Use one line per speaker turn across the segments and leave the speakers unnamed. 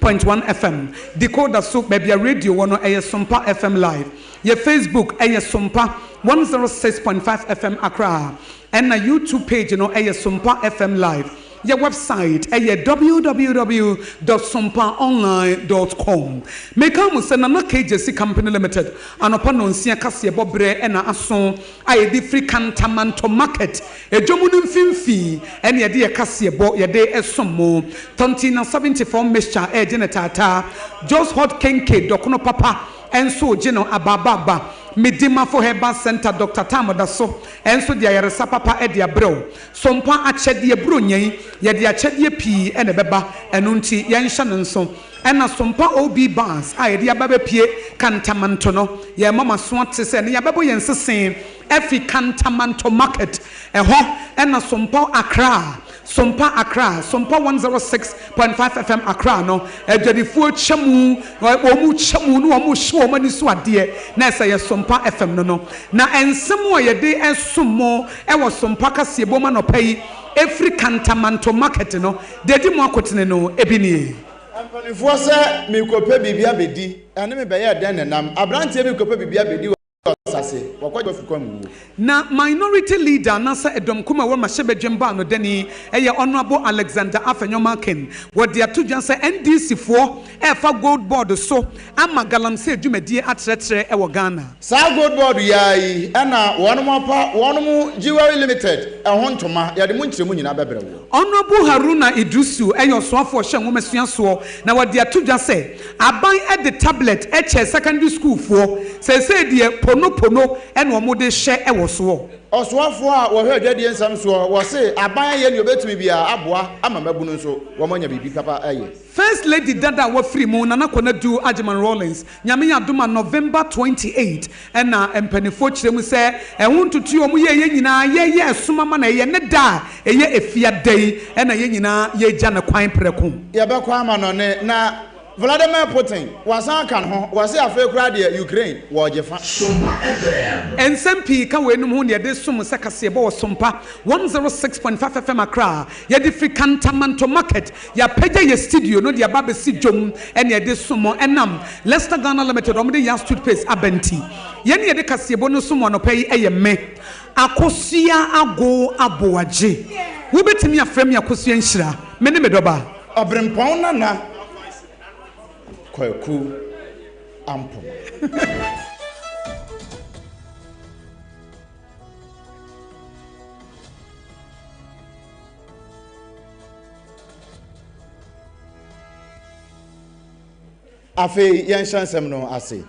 Point one FM, decoder so baabi a radio wɔ no ɛyɛ Sompa FM live, yɛ Facebook ɛyɛ Sompa one zero six point five FM Accra, ɛna YouTube page no ɛyɛ Sompa FM live, yɛ website ɛyɛ www dot sompa online dot com. Meka mo sɛ Nana KJC Company Limited anɔpa nɔnsia kaseɛbɔ berɛ ɛna aso. a yɛde firi Kantamanto Market dwam no mfimfini ɛne yɛde yɛ kaseɛbɔ yɛde som mo. Tontina 74 Mixture regye no taataa, Joe's Hot Kenkey dɔkono papa nso regye no abaabaaba, Midimafo Herbal Centre Doctor Tam da so nso de ayaresa papa de abrɛ wo. Sompa akyɛdeɛ, Buronya yi yɛde akyɛdeɛ pii na ɛbɛba ɛno nti yɛnhyɛ no nso. Ɛna Sompa OB Bars a yɛde aba abɛpue Kantamanto no, yɛrema mo aso ate sɛ ɛnɛ yɛabɛbɔ yɛn nsesee afi Kantamanto Market, ɛhɔ na Sompa Accra, Sompa Accra, Sompa 106.5 FM Accra no, adwadifoɔ kyɛ mu, wɔkyɛ mu na wɔhye wɔn ani so adeɛ, na ɛsɛ yɛ Sompa FM no no. Na nsɛm a yɛde resom mo wɔ Sompa Kaseɛbom anɔpa yi firi Kantamanto Market no, Deɛ ɛdi mu akotene no bi nie. Mpanimfoɔ sɛ,
Merekɔpɛ biribi abɛdi. Ɛne me bɛyɛɛ dɛn nnam? Aberanteɛ bi rekɔpɛ biribi abɛdi wɔ ɔsase. Wakɔgye wɔ fukɔm mu.
Na Minority Leader anaasɛ Ɛdɔm Ko mu a ɛwɔ Mmarahyɛbadwam baanodani, ɛyɛ Honourable Alexander Afenyo Markin, wɔde ato dwa sɛ NDC foɔ ɛrefa Gold Board so ama galamsey dwumadie atrɛtrɛ wɔ Ghana. Saa Gold Board yi
ara yi na wɔapa wɔn mo Jewellery Limited ho ntoma, yɛde mo nkyerɛmu nyinaa bɛbrɛ woɔ. Honourable Haruna
Iddrisu yɛ ɔsoafoɔ ɔhyɛ nwoma sua soɔ na wɔde ato dwa sɛ aban de tablet kyɛɛ secondary sukuufoɔ, seesei deɛ pono pono na wɔde rehyɛ wɔ soɔ. Ɔsoafoɔ a
wɔhwɛ adwadie nsɛm soɔ wɔ se aban ayɛ deɛ ɔbɛtumi biara aboa ama mmabunu nso wɔanya biribi papa ayɛ. First Lady dada
a wafiri mu, Nana Konadu Agyeman Rawlings, Nyame adom a November twenty eight na mpaninfoɔ kyerɛ mu sɛ ɛho ntotoeɛ a wɔyɛeɛ nyinaa yɛyɛ ɛsom ama no, ɛyɛ ne da a ɛyɛ efiada yi na yɛn nyinaa yɛregya no kwan prɛko. Yɛbɛkɔ amannɔne
na Vladimir Putin wasan aka ne ho, wase afei koraa deɛ Ukraine wɔregye fa. Sompa FM. Nsɛm pii
ka weinom ho na yɛde som sɛ kaseɛbɔ wɔ Sompa one zero six point five FM Accra, yɛde firi Kantamanto Market Yɛapagya yɛn studio no de aba abɛsi dwom ne ɛde som mo ɛnam Lester Ghana Limited wɔn de Yas Toothpaste aba nti. Yɛn ne yɛde kaseɛbɔ no som mo anɔpa yi ɛyɛ me, Akosua Agow Aboagye. Wobɛtumi afrɛ me Akosua Nhyira. Me ne me dɔba. Ɔberempɔn Nana
Kwaku Ampong. afei yɛnhyɛ nsɛm no ase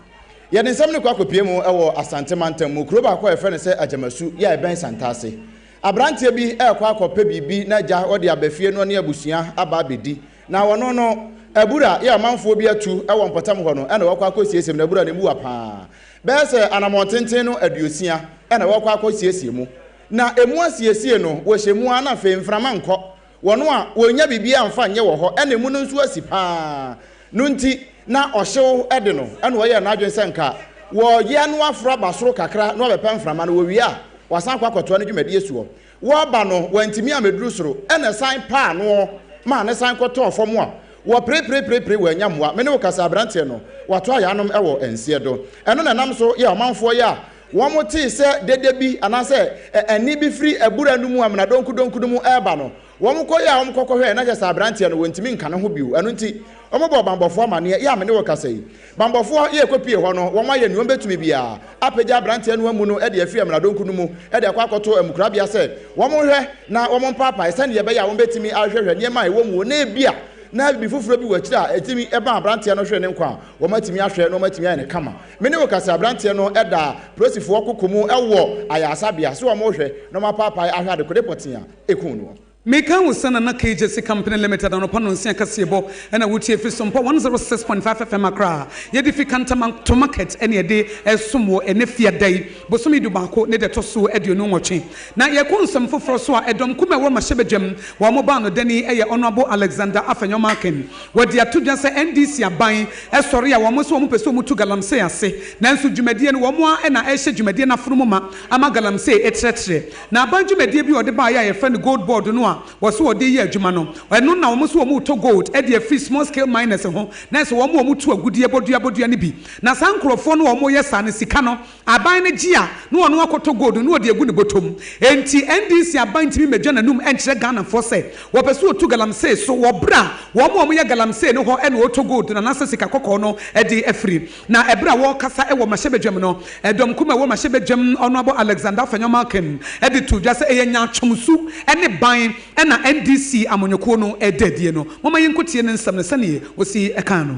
yɛde nsɛm no kɔ akɔpie mu wɔ asante mantam mu kuro baako a yɛfrɛ no sɛ agyamasu yɛ a ɛbɛn santase aberanteɛ bi ɛrekɔ akɔpɛ biribi na agya ɔde abɛfie no ne abusua aba abɛdi na wɔno no abura yɛ ɔmanfoɔ bi atu wɔ mpɔtam hɔ no ɛna wɔkɔ akɔsiesie mu na abura no mu wa paa bɛyɛ sɛ anammɔn tenten no aduosia ɛna wɔkɔ akɔsiesie mu Na emu asiesie no, wɔhyɛ mu ara na afei mframa nkɔ wɔn a wɔnnya biribiara mfa nyɛ wɔ hɔ na emu no nso asi pa ara no nti, na ɔhyew de no na wɔyɛɛ no adwene sɛ anka wɔyɛ no aforo aba soro kakra na wɔabɛpɛ mframa no, wɔwie a wɔasan akɔ akɔtoa ne dwumadie soɔ. Wɔreba no, wɔantumi ammɛduru soro na ɛsan paa ano maa no san kɔtɔɔ fam a wɔpereperepereperee wɔannya mmoa. Me ne wo kasa aberanteɛ no, wɔato ayaanom wɔ nseɛ do. Ɛno na ɛnam so yɛ ɔmanfoɔ yi a Wɔtee sɛ dede bi anaasɛ ɛnne bi firi abura no mu amena donkudonku no mu reba no, wɔkɔe a wɔkɔkɔhwɛe, na kyerɛ sɛ aberanteɛ no, wɔntumi nka ne ho bio. Ɛno nti, wɔbɔɔ bammɔfoɔ amanneɛ, Yɛ a me ne wo rekasa yi, bammɔfoɔ yɛ kɔpue hɔ no, wɔayɛ nea wɔbɛtumi biara apagya aberanteɛ no amu no de afiri amena donku no mu de akɔ akɔto amukorabea sɛ wɔnhwɛ na wɔmpaapae sɛdeɛ ɛbɛyɛ a wɔbɛtumi ahwehwɛhwɛ nneɛma a ɛwɔ mu na ebia na biribi foforɔ bi wɔ akyire a ɛtumi ma aberanteɛ no hwere ne nkwa a wɔatumi ahwɛ na wɔatumi ayɛ no kama. Me ne wo kasa abranteɛ no da prosifoɔ koko mu wɔ ayarasabea so wɔn rehwɛ na wɔn apaapae ahwɛ adekode pɔtee a ɛkuu noɔ. Me
kan wo sɛ Nana KJC company limited anɔpa nonsia kaseɛbɔ ɛna wo tie firi Sompo one zero six point five FM Accra a yɛde fi Kantama to market ɛna yɛde ɛresom wɔ ɛnɛ fiada yi bosome du baako ne dɛ ɛtɔsoɔ aduonu nwɔtwe na yɛkɔ nsɛm foforɔ so a ɛdɔm kuma ɛwɔ Mahyɛbadwam wɔn baa no dɛn yi ɛyɛ Honourable Alexander Afenyo Markin Wɔde ato dwa sɛ NDC aban sɔre a wɔn sɛ wɔn pɛ sɛ wɔn tu galamsey ase, nanso dwumadie no wɔn ara na ɛrehyɛ dwumadie no afonomu ma ama galamsey ɛtrɛtrɛ. Na aban dwumadie bi a wɔde baeɛ a yɛfrɛ no Gold Board no a wɔse wɔde reyɛ adwuma no, ɛno na wɔn se wɔn retɔ gold de afiri small scale miners ho na ɛsɛ wɔn wɔn tu agudeɛ bɔdua bɔdua no bi. Na saa nkorɔfoɔ no a wɔreyɛ saa no sika no Aban no gye a, na ɔno akɔtɔ gold no na ɔde agu ne bɔtɔ mu. Enti NDC aban ntumi mmedwa n'anum nkyerɛ Ghanafoɔ sɛ wɔpɛ sɛ wɔtu galamsey so wɔ berɛ a wɔn a wɔyɛ galamsey no hɔ na wɔretɔ gold no anaasɛ sika kɔkɔɔ no de afiri. Na ɛberɛ a wɔrekasa wɔ Mmarahyɛ Badwam no, Dɔm Kumaa a ɛwɔ Mmarahyɛ Badwam Honourable Alexander Afenyo Malkin de too dwa sɛ ɛyɛ nyaatwom su ne ban na NDC amanyɔkuo no reda adie no. Momma yɛnkɔtie ne nsɛm no sɛdeɛ ɔsi kaa no.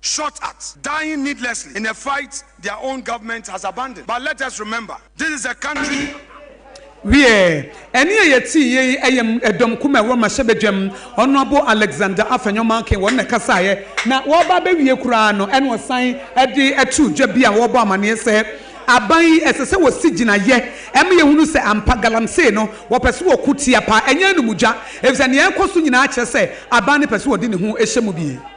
shot at, dying needlessly in a fight their own government has abandoned but let us remember this is a country. Wiɛ,
ɛnne a yɛteeɛ yi yɛ dɔm kumaa a ɛwɔ mmarahyɛbadwam, Honourable Alexander Afenyo Markin, wɔn na ɛkasaeɛ, na wɔreba abɛwie koraa no na wɔsan de too dwa bi a wɔrebɔ amaneɛ sɛ, Aban yi, ɛsɛ sɛ wɔsi gyinaeɛ ma yɛhunu sɛ ampa galamsey no, wɔpɛ sɛ wɔko tia paa, ɛnyɛ anum dwa, ɛfiri sɛ deɛ ɛrekɔ so nyinaa kyerɛ sɛ aban no pɛ sɛ wɔde ne ho hyɛ mu bi.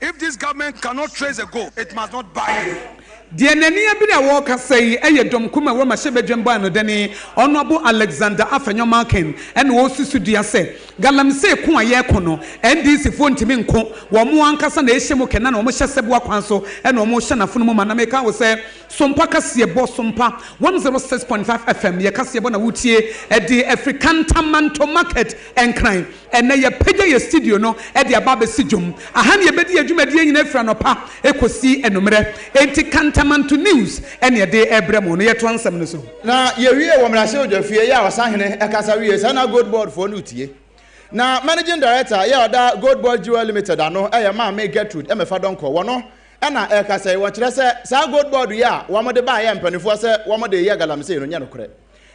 If this government cannot trace the goal, it must not buy any. Deɛ n'ani abere
a ɔrekasa yi yɛ dɔm ko ma wɔ mmarahyɛbadwam bɔanodani Honourable Alexander Afenyo Malkin na ɔresusu dua sɛ Galamsey ko a yɛreko no NDC foɔ ntumi nko, wɔn ankasa na ɛrehyɛ mu kɛ na na wɔn hyɛ sɛboa kwan so na wɔn rehyɛ n'afono mu ma. Na meka wo sɛ Sompa kaseɛbɔ Sompa 106.5 FM yɛ kaseɛbɔ na woretie de afiri Kantamanto Market Nkran. Ɛnnɛ, yɛapagya yɛn studio no de aba abɛsi dwom. Aha na yɛbɛdi yɛn dwumadie nyinaa firi anɔpa kɔsi anwummerɛ. Enti Kantamanto News na yɛde rebrɛ mo. Na yɛtoa nsɛm no so. Na yɛwie wɔ
mmarahyɛbadwafie yɛ a ɔsahene kasa wie saa na Gold Board foɔ no retie. Na Managing Director yɛ a ɔda Gold Board Jewel Limited ano yɛ Maame Gertrude Mefa Donkor, wɔno na ɛrekasa yi. Wɔkyerɛ sɛ saa Gold Board yi a wɔde baeɛ mpanimfoɔ sɛ wɔde reyɛ galamsey no nyɛ nokorɛ.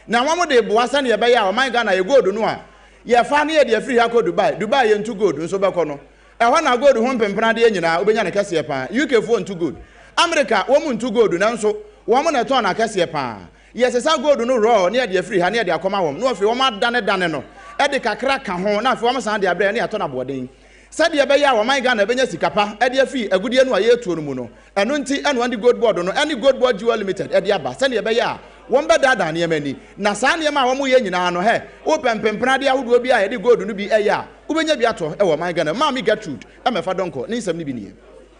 na wɔn de boa sɛdeɛ ɛbɛyɛ a ɔman Ghana yɛ gold no a yɛfa ne yɛde afiri ha kɔ Dubai Dubai yɛntu gold nso bɛkɔ no ɛhɔ na gold ho mpempena adeɛ nyinaa wobɛnya no kɛseɛ paa UK foɔ ntu gold America wɔn ntu gold nanso wɔn na ɛtɔn no akɛseɛ paa yɛsesa gold no raw ne yɛde afiri ha ne yɛde akɔma wɔn na afei wɔn adane dane no ɛde kakra ka ho na afei wɔn san de abrɛ ne yɛatɔ no aboɔden Sɛdeɛ ɛbɛyɛ a wɔman Ghana bɛnya sika pa de afi agudeɛ no a yɛretuo no mu no, ɛno nti na wɔde Gold Board no ne Gold Board Jewel Limited de aba sɛdeɛ ɛbɛyɛ a wɔbɛdaadaa nneɛma ani. Na saa nneɛma a wɔyɛ nyinaa no, hɛ, wopɛ mpempradeɛ ahodoɔ bi a yɛde gold no bi yɛ a, wobɛnya bi atɔ wɔ ɔman Ghana mu. Maame Gertrude Mɛfa Donkor ne nsɛm no bi nie.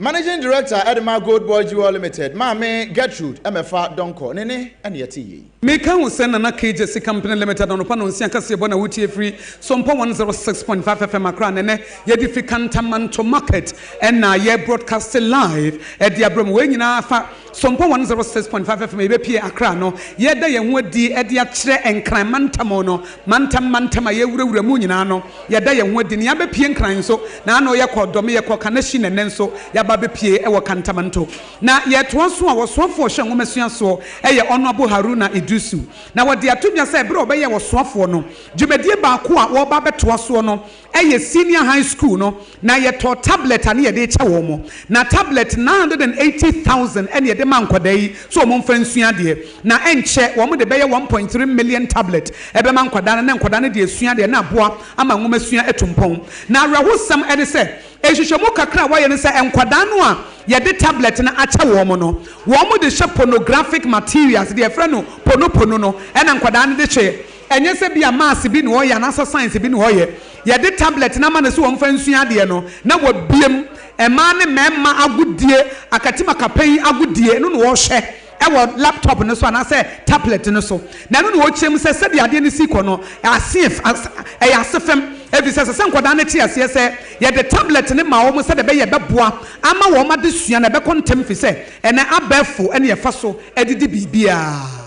Managing
Director ɛde ma Gold Boy Jewel Limited maame Gertrude Ɛmɛfa Donkor ne ne ɛna yɛte yie yi. Meka ho sɛ Nana
KJC Company Limited anɔpa nonsia kaseɛbɔ na wotie firi Sompo 106.5 FM Accra na ɛnɛ yɛde firi Kantamanto Market ɛna yɛ broadcasting live ɛde abrɛ mo wei nyinaa fa Sompo one zero six point five FM a yɛbɛpue Accra no, yɛreda yɛn ho adi de akyerɛ Nkran mantam no mantam mantam a yɛrewurawura mu nyinaa no, yɛda yɛn ho adi. Nea abɛpue Nkran nso, na ano yɛkɔ Dome, yɛkɔ Kaneshie na nnɛ nso yɛaba abɛpue wɔ Kantamanto. Na yɛretoa so a, ɔsoafoɔ a ɔhwɛ nwomasua soɔ yɛ Honourable Haruna Iddrisu. Na wɔde ato dwa sɛ berɛ a wɔbɛyɛ ɔsoafoɔ no, dwumadie baako a wɔreba abɛtoa soɔ no yɛ senior high school no na yɛtɔɔ tablet a ne yɛde rekyɛ wɔn mo. Na tablet nine hundred and eighty thousand na yɛde maa nkwadaa yi sɛ wɔn mfa nsua adeɛ. Na ɛnkyɛ wɔn de bɛyɛ one point three million tablet bɛma nkwadaa no na nkwadaa no de asua adeɛ na aboa ama nwoma sua atu mpɔn. Na awerɛhosɛm ne sɛ nhwehwɛmu kakra a wɔayɛ ne sɛ nkwadaa no a yɛde tablet no akyɛ wɔn no wɔn de hyɛ pornographic materials, deɛ yɛfrɛ no ponopono no na nkwadaa no de hyɛ Ɛnyɛ sɛ ebia maths bi na ɔyɛ anaasɛ science bi na ɔyɛ. Yɛde tablet no ama no sɛ ɔmfa nsua adeɛ no, na wabue mu. Mmaa ne mmarima agodie, akatimakapan yi agodie, ɛno na ɔrehwɛ wɔ laptop no so anaasɛ tablet no so. Na ɛno na ɔrekyerɛ mu sɛ sɛdeɛ adeɛ no resi kɔ no, aseɛf, as, ɛyɛ asefem. Ɛfiri sɛ, ɛsɛ sɛ nkwadaa no te aseɛ sɛ yɛde tablet no ma wɔn sɛdeɛ ɛbɛyɛ ɛbɛboa ama wɔn adesua no ɛbɛkɔ ntɛm firi sɛ ɛnnɛ abɛɛfo na ɛfa so de di biribiara.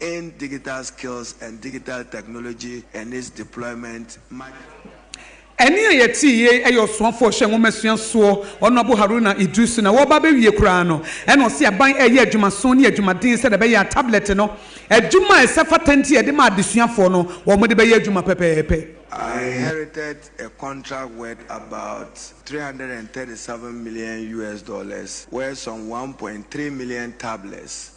in Digital Skills and Digital Technology and its Deployment Manual.
Ɛnne a yɛtee yi yɛ Ɔsomafoɔ Ɔhyɛ Nwomasua Soɔ Honourable Haruna Iddrisu na wɔreba abɛwie koraa no na ɔse aban reyɛ adwumaso ne adwumaden sɛdeɛ ɛbɛyɛ a tablet no adwuma a ɛsɛ fata nti yɛde ma adesuafoɔ no wɔde bɛyɛ adwuma pɛpɛɛpɛ. I inherited
a contract worth about three hundred and thirty seven million US dollars where some one point three million tablets,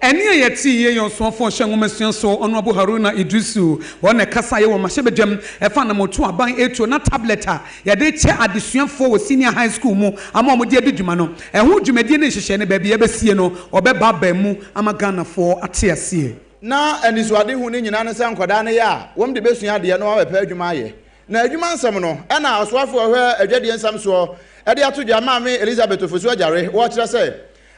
Ɛnne a
yɛtee yɛ yɛn ɔsoafo a ɔhyɛ nwomasua so, Honourable Haruna Iddrisu, wɔn na ɛkasaeɛ wɔ mmarahyɛbadwam ɛfa anammɔntu a aban retuo na tablet a yɛde rekyɛ adesuafoɔ wɔ senior high school mu ama wɔde adi dwuma no ɛho dwumadie ne nhyehyɛe ne baabi a yɛbɛsie no wɔbɛbaabae mu ama Ghanafoɔ ate aseɛ. Ná anisoadehu
no nyinaa ne sɛ nkwadaa no yɛ a, wɔn de bɛsua adeɛ na wɔabɛpɛ adwuma ayɛ. Na adwuma nsɛm no na ɔsoafo a ɔhwɛ adwadie nsɛm soɔ de ato dwa, Maame Elizabeth Ofosu-Agyare, ɔrekyerɛ sɛ,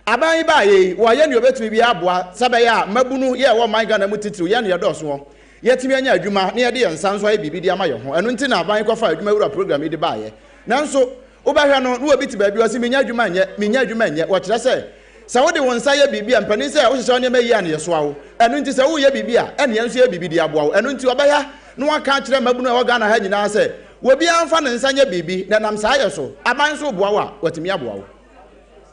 Aban yi baeɛ yi, wɔayɛ deɛ wɔbɛtumi biara aboa sɛ ɛbɛyɛ a mmabunu yɛ a ɛwɔ ɔman Ghana mu titiriw, yɛn na yɛdɔɔso hɔ, yɛatumi anya adwuma na yɛde yɛn nsa nso ayɛ biribi de ama yɛn ho. Ɛno nti na aban yi kɔfaa Adwuma Wura Program yi de baeɛ. Nanso, wobɛhwɛ no, na obi te baabi, ɔse, Mennya adwuma nyɛ, mennya adwuma nyɛ. Wɔkyerɛ sɛ, sɛ wode wo nsa yɛ biribi a, mpanin sɛ wohyehyɛ wo nneɛma yie a, na yɛsoa wo. Ɛno nti, sɛ woreyɛ biribi a, ɛnneɛ nso yɛ biribi de aboa wo. Ɛno nti, wɔbɛyɛ na wɔaka akyerɛ mmabunu a ɛwɔ Ghana ha nyinaa sɛ, obiara mfa ne nsa nyɛ biribi, na ɛnam saa yɛ so, aban nso reboa wo a, wɔatumi aboa wo.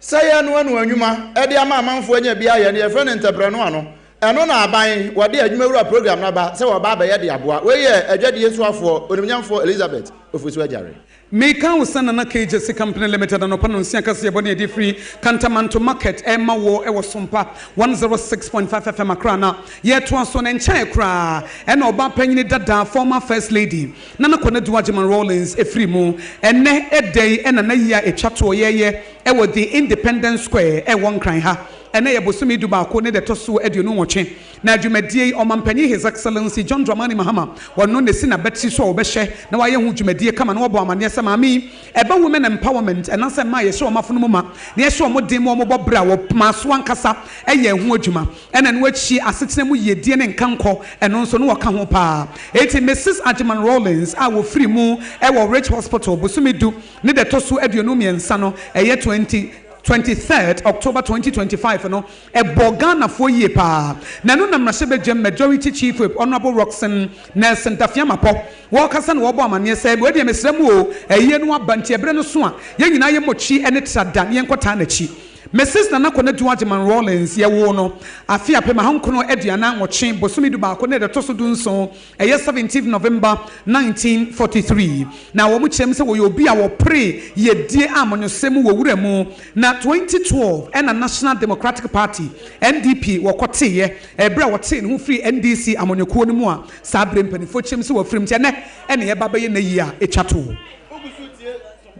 Sɛ yɛnoa
no anwuma de ama amanfoɔ anya bi ayɛ no, yɛfrɛ no ntɛprɛnoa no. Ɛno na aban wɔde adwumawura program no aba sɛ wɔreba abɛyɛ de aboa. Wei yɛ adwadie soafoɔ Onimnyamfoɔ Elizabeth Ofosu Agyare. Meka wo sɛ
Nana Cages Company Limited anɔpa nonsia kaseɛbɔ ne ɛde firi Kantamanto Market rema wo wɔ Sompa 106.5 FM Accra na yɛtoa so ne nkyɛn koraa na ɔbaa panyini dada former First Lady na na Kɔnadu Agyeman Rawlings firi mu. Ɛnnɛ da yi na n'ayi a ɛtwa toɔ yɛɛyɛ wɔ The Independence Square wɔ Nkran ha. Ɛnnɛ yɛ bosome du baako ne da ɛtɔ so aduonu nwɔtwe, na dwumadie yi Ɔmanpanin His Excellency John Dramani Mahama ɔno na ɛsi n'abatiri so a ɔbɛhwɛ na wayɛ ho dwumadie kama na wabɔ amaneɛ sɛ maame yi ɛba Women Empowerment anaasɛ mmaa yɛhyɛ wɔn afono mu ma na yɛhyɛ wɔn den ma wɔbɔ berɛ a wɔmaa so ankasa yɛɛ ho adwuma. Ɛna ɛno akyi asetena mu yiedie ne nkankɔ, ɛno nso na wɔka ho paa. Enti Misus Agyeman Rawlings a wɔfiri mu wɔ Rich Hospital bosome du ne da ɛtɔ so aduonu mmiɛnsa no, ɛyɛ twenty twenty third October twenty twenty five no, ɛbɔɔ Ghanafoɔ yie paa. Na ɛno na mmarahyɛbadwam Majority Chief Whip Honourable Rockson Nelson Tafiamapɔ wɔkasa na wɔbɔ amaneɛ sɛ, wei deɛ mesrɛ mo o, ayie no aba nti ɛberɛ no so a yɛn nyinaa yɛmmɔ twi ne tra da na yɛnkɔtaa n'akyi. Mrs. Nana Konadu Agyeman Rawlings, yɛwoo no afe apem ahankron aduanan nwɔtwe, bosome du baako na ɛda ɛtɔ so du nson, ɛyɛ seventeenth November nineteen forty three, na wɔn kyerɛ mu sɛ wɔyɛ obi a wɔpere yiedie a monyosɛ mu wɔ wura mu, na twenty twelve ɛna National Democratic Party, NDP, wɔkɔteeɛ, ɛberɛ a wɔtee ne ho firii NDC amanyɔkuo no mu a saa berɛ mpaninfoɔ kyerɛ mu sɛ wɔafirim, nti ɛnnɛ ɛna yɛba abɛyɛ n'ayie a ɛtwa toɔ.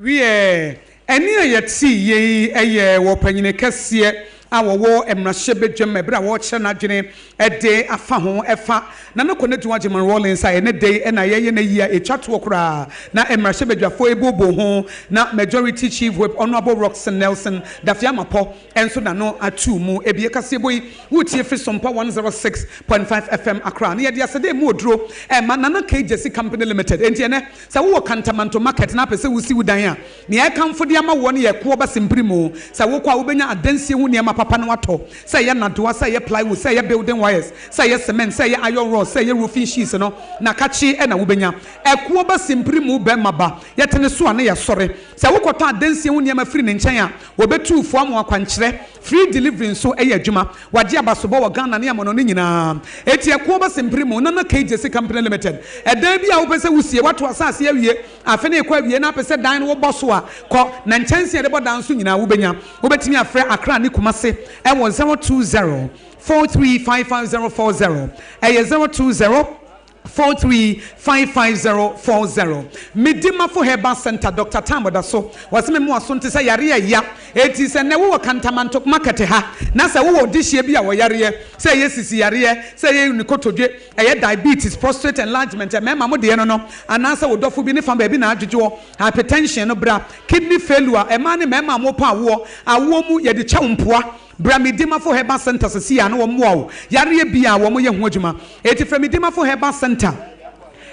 Wiɛ, ɛnne a yɛtee yei yɛ wɔ ɔpanyin kɛseɛ a ɔwɔ mmarahyɛbadwam ɛberɛ a ɔrekyerɛ n'adwene de afa ho ɛfa Nana Konadu Agyeman Rawlings a ɛnɛ dɛn na yɛyɛ no ayi a ɛtwa toɔ koraa na mmarahyɛbadwafoɔ ɛbooboo ho na Majority Chief Whip Honourable Rockson Nelson Daffy Amarpɔ nso n'ano atuu mu ɛbi ɛkaseɛbɔ yi woretie firi Sompa 106.5 FM Accra na yɛde aseda ɛmu oduro ɛma Nana Kgyesi Company Limited enti ɛnɛ Sɛ wowɔ Kantamanto Market na wopɛ sɛ wusi wo dan a, nea ɛkamfo de ama woɔ no yɛ koɔ basin pirim. Sɛ wokɔ a, wubenya adansie ho nneɛma papa na woatɔ, sɛ ɛyɛ nnadewa, sɛ ɛyɛ plywood, sɛ ɛyɛ building wires, sɛ ɛyɛ cement, sɛ ɛyɛ iron rods, sɛ ɛyɛ roofing sheets no, na kakyee na wubenya. Ɛkoɔ basin pirim wo barima ba, yɛte ne so a na yɛasɔre. Sɛ wokɔtɔ adansie ho nneɛma firi ne nkyɛn a, obetu wo fo ama wo akwankyerɛ. Free delivery nso yɛ adwuma. Wagye abasobɔ wɔ Ghana ne amɔnɔne nyinaa. Eti ɛko bɛsen mpere mu. Nana KJC Company Limited. Ɛdan bi a wopɛ sɛ wusie, woato asase awie, afe no rekɔ awiei na wopɛ sɛ dan no wobɔ so a, kɔ, na nkyɛnsee a yɛde bɔ dan nso nyinaa wubenya. Wubetumi afrɛ Accra ne Kumasi wɔ zero two zero, four three five five zero four zero, ɛyɛ zero two zero, Four three five five zero four zero Medi Mafo Herbal Centre Doctor Tam Ɔdaso Wɔse me mmoa so nte sɛ yareɛ a ɛya Enti sɛ nnɛ wowɔ Kantamanto market ha Na sɛ wowɔ dehyeɛ bi a wɔ yareɛ Sɛ ɛyɛ sisi yareɛ Sɛ ɛyɛ nkotodwe Ɛyɛ diabetes, prostrate enlargement Mmarima mo deɛ no no Anaa sɛ wo dɔfo bi ne fa baabi na adwodwoɔ Hypertension no bra Kidney failure Mmaa ne mmarima a mopɛ awoɔ Awoɔ mu yɛde kyɛ wo mpoa Bra Medimafo Herbal Centre sesei a na wɔmmoa wo yareɛ biaa a wɔyɛ ho adwuma enti frɛ Medimafo Herbal Centre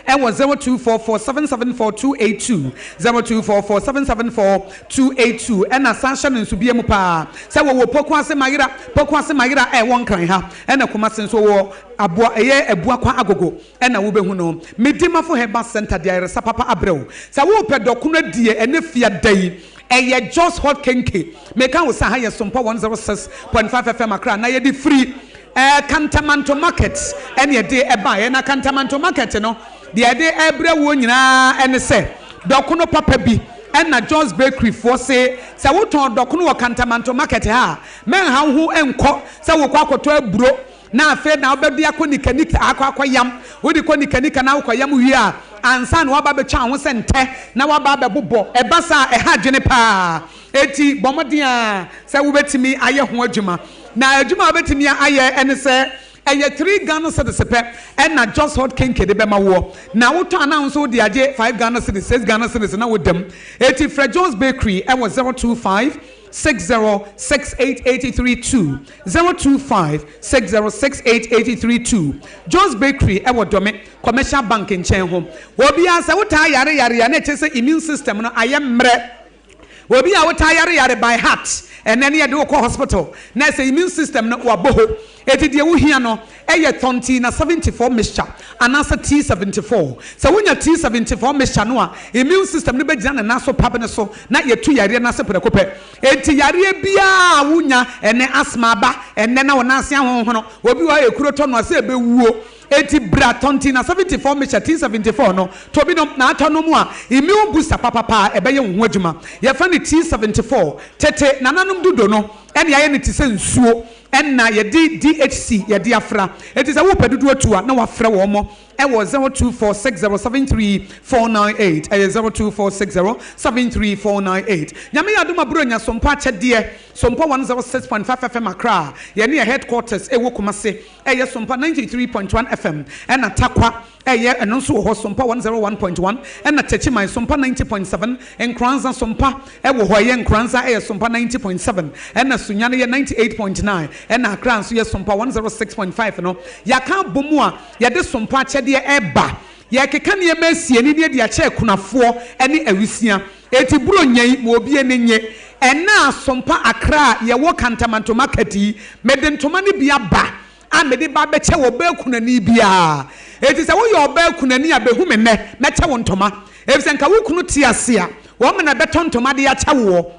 ɛwɔ 0244774282, 0244774282 ɛna san hyɛ no nso bia mu paa sɛ wɔwɔ Poku Ase Mayera, Poku Ase Mayera a ɛwɔ Nkran ha ɛna Kumasi nso wɔwɔ Aboa ɛyɛ Abuakwa Agogo ɛna wo bɛhu no. Medimafo Herbal Centre de ayaresa papa abrɛ wo sɛ wo pɛ dɔkono adie ɛnɛ fiada yi ɛyɛ Jos Hot Kenkey. Meka wo sɛ aha yɛ Sompo 106.5 FM Accra na yɛde firi ɛɛ Kantamanto market ɛne ɛde ɛbaeɛ na Kantamanto market no deɛ ɛde ɛbrɛ woɔ nyinaa ɛne sɛ dɔkono papa bi ɛna John's bakery foɔ se sɛ wotɔn dɔkono wɔ Kantamanto market ha a mɛnha wo ho nkɔ sɛ wokɔ akɔtɔ aburo na afei na wobɛde akɔ nikanika akɔ akɔ yam wode kɔ nikanika na wokɔ yam wie a ansa na waba abɛtwa wo ho sɛ ntɛ na waba abɛbobɔ ɛba saa ɛha adwene paa Enti bɔ mmɔden ara sɛ wubetumi ayɛ ho adwuma. Na adwuma a wubetumi ayɛ ne sɛ, ɛyɛ three Ghana cedis pɛ na Jos Hot Kenkey de bɛma woɔ. Na wotɔ a na wo nso wode agye five Ghana cedis, six Ghana cedis na woda mu. Enti frɛ Jos Bakery wɔ zero two five, six zero six eight eight three two, zero two five, six zero six eight eight three two. Jos Bakery wɔ Dome Commercial Bank nkyɛn hɔ. Obiara, sɛ wotaa yare yare a na ɛkyerɛ sɛ immune system no ayɛ mmerɛ. Obi a wotaa yare yare by heart ɛnɛ ne yɛde wo kɔ hospital na sɛ immune system no wabɔ hɔ enti deɛ wohia no yɛ Thontina seventy four mixture anaasɛ T seventy four. Sɛ wonya T seventy four mixture no a immune system no bɛgyina ne nan so pap no so na yɛatu yareɛ no ase prɛko pɛ. Enti yareɛ biara a wonya ɛnɛ, asthma aba ɛnɛ na wo nan ase ahonhono, obi wɔ hɔ a ekuro tɔ no a sɛ ɛbɛwuo, Enti bra tɔ nti na seventy four mehyɛ tin seventy four no tɔ bi nom na atɔ nom a immune booster papapa a ɛbɛyɛ wo ho adwuma yɛfrɛ no tin seventy four tete nananom dodo no ɛne ayɛ no te sɛ nsuo ɛna yɛde DHC yɛde afra enti sɛ wopɛ dodo atu a na wafrɛ wɔn ɛwɔ zero two four six zero seven three four nine eight ɛyɛ zero two four six zero seven three four nine eight Nyame yɛ adom aburo nya Sompo akyɛdeɛ Sompo one zero six point five FM Accra yɛne yɛ headquarters ɛwɔ Kumase Ɛyɛ Sompa ninety three point one FM ɛna Tarkwa ɛyɛ ɛno nso wɔ hɔ Sompa one zero one point one ɛna Techiman Sompa ninety point seven Nkoranza Sompa ɛwɔ hɔ ɛyɛ Nkoranza ɛyɛ Sompa ninety point seven ɛna Sunyani yɛ ninety eight point nine ɛna Accra nso yɛ Sompa one zero six point five no yɛaka abɔ mu a yɛde Sompa akyɛdeɛ ɛba yɛrekeka nneɛma asie ne ne ɛde akyɛ akunafoɔ ɛne awisia Eti buro nya yi ma obi ani nye. Ɛna asompa akra a yɛwɔ kantama ntoma kɛte yi, mede ntoma no bi aba a mede ba abɛkyɛ ɔbaa kunani biara. Enti sɛ woyɛ ɔbaa kunani a, behu me nnɛ, mɛkyɛ wo ntoma. Efisɛ nka wo kunu te ase a, wɔn na ɛbɛtɔ ntoma de akyɛ woɔ.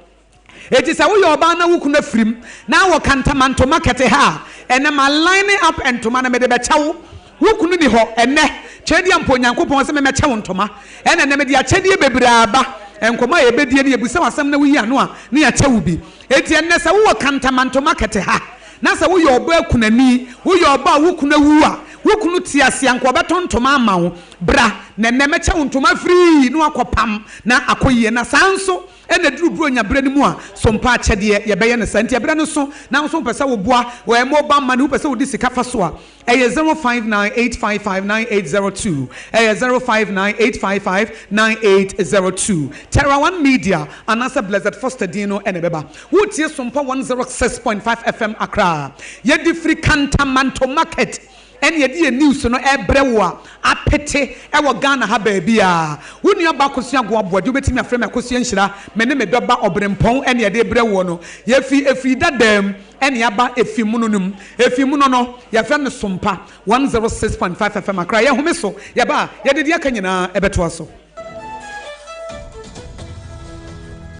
Enti sɛ woyɛ ɔbaa na wo kunu afirim na wɔka ntamantoma kɛte ha a, ɛnnɛ ma line up ntoma no mede bɛkyɛ wo. Wo kunu nni hɔ ɛnnɛ, kyerɛ di a mpo Onyankopɔn se memmɛkyɛ wo ntoma. Ɛna ɛnnɛ mede akyɛdeɛ bebree aba, nkɔmmɔ a yɛbɛdie no yɛbisa wo asɛm na woyi ano a na yɛakyɛ wo bi. Enti ɛnnɛ sɛ wowɔ kantamantoma kɛte ha na sɛ woyɛ ɔbaa kunani, woyɛ ɔbaa a wo kunu awu a, wo kunu te ase a anka ɔbɛtɔ ntoma ama wo, bra na ɛnnɛ mɛkyɛ wo ntoma firii na woakɔpam na akɔ yie. Na saa nso. Ɛna ɛduru Buronya berɛ no mu a, so mpa akyɛdeɛ yɛbɛyɛ no saa? Nti ɛberɛ no so na wo so wopɛ sɛ wo boa wɔ mobile money, wopɛ sɛ wo de sika fa so a, ɛyɛ zero five nine eight five five nine eight zero two, ɛyɛ zero five nine eight five five nine eight zero two. Terra One Media anaasɛ Blessed Foster din no na ɛbɛba. Woretie Sompa one zero six point five FM Accra a yɛde firi Kanta Manto Market ɛne yɛde yɛn news no ɛbrɛ wo a apete ɛwɔ Ghana ha baabiaa wo nua ba Akosua Goa Boadi wobɛtumi afrɛ me Akosua Nhyira me ne me dɔ ba Ɔbrempɔn ɛne yɛde brɛ woɔ no yɛfiri ɛfiri dadaa mu ɛne aba ɛfiri mono no mu ɛfiri mono no yɛfrɛ no Sompa 106.5 FM Accra yɛhome so yɛba a yɛde deɛ aka nyinaa ɛbɛtoa so.